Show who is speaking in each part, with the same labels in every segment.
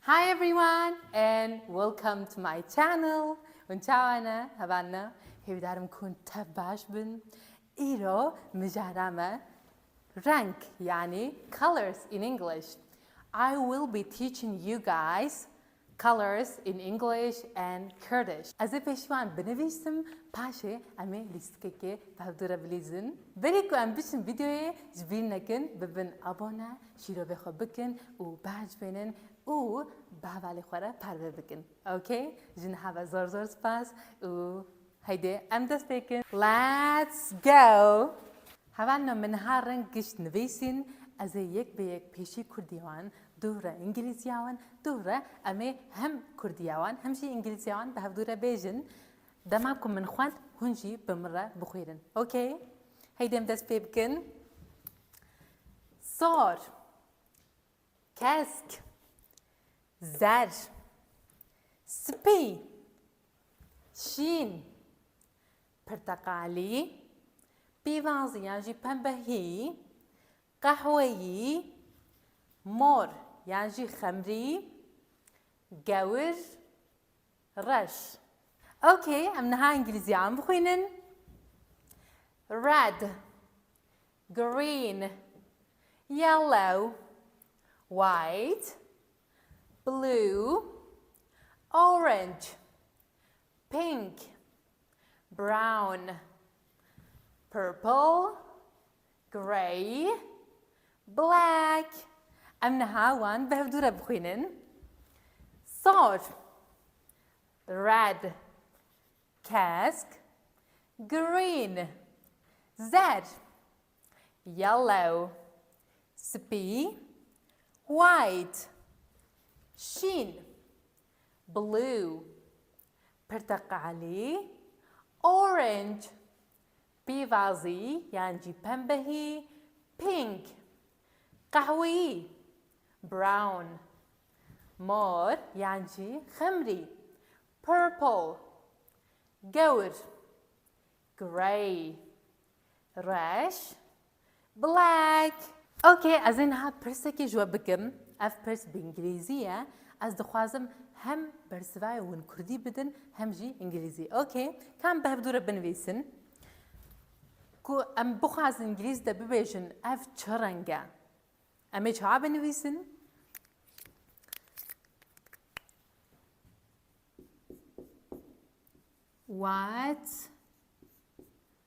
Speaker 1: Hi everyone and welcome to my channel Hûn çawa ne? Heval ne? Hêvîdarim ku hûn tev baş bin. Îro mijara me renk yanî colors in English. I will be teaching you guys Colours in English and Kurdish Ez ê pêşivan binivîsim paşê em ê lîstikekê bi hev dû re bilîzin. Berî ku em biçin vîdeoyê ji bîr nekin bibin abone, şîrovê xwe bikin û behc bênin û bi hevalê xwe re parve bikin. Ok? Ji niha ve zor zor spas û Heydê em dest pêkin. Let's go! Heval me min ha reng gişt nivîsîn, ez ê yek be yek pêşî kurdî wan, duh re îngîlîzîya wan, duh re em ê hem kurdîya wan hem jî îngîlîzîya wan bi hev dû re bêjin. Dema ku min xwend hûn jî bi min re bixwîrin. Ok? Heydê em dest pê bikin. Sor. Kesk, zer, spî, şîn, pirteqalî, pîvazî yan jî pembehî, qehweyî, mor yan jî xemrî, gewir, Reş. Ok, em niha îngilîzî an bixwînin. Red. Green. Yellow. White. Blue. Orange. Pink. Brown. Purple. Grey, black, em niha wan bi hevdû re bixwînin. Sor, red, kesk, green, zer, yellow, spî, white, şîn, blue, pirteqalî, orange, Pêvazî yan jî pembehî, pink. Qehweyî, brown. Mor yan jî xemrî, purple. Gewr, grey. Reş, Black. Ok, ez ê niha pirsekê ji we bikim. Ev pirs bi îngilîzî ye. Ez dixwazim hem bersivayê win kurdî bidin hem jî îngilîzî. Ok, ka em bi hev dû re binivîsin ku em bixwazin îngilîz de bibêjin ev çi reng e? Em ê çawa binivîsin? What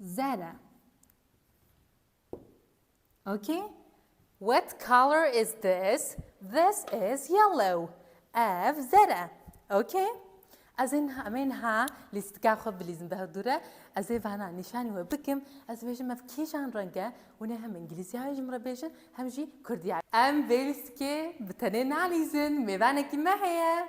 Speaker 1: Zer e. Okay? What color is this? This is yellow. Ev zer e. Okay? Ez ên em ên ha lîstika xwe bilîzin daha dûr e. Ez ê vana nîşanî we bikim. Ez bêjim ev kîjan reng e. Hûn ê hem îngilîzya ji min re bêjin hem jî kurdya. Em vê lîstikê bi tenê nalîzin. Mêvanekî me heye.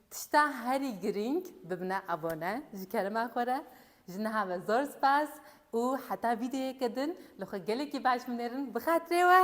Speaker 1: Tişta herî girîng bibne abone ji kerema xwe re. Ji niha ve zor spas û heta vîdeoyeke din li xwe gelekî baş binêrin bixatirê we.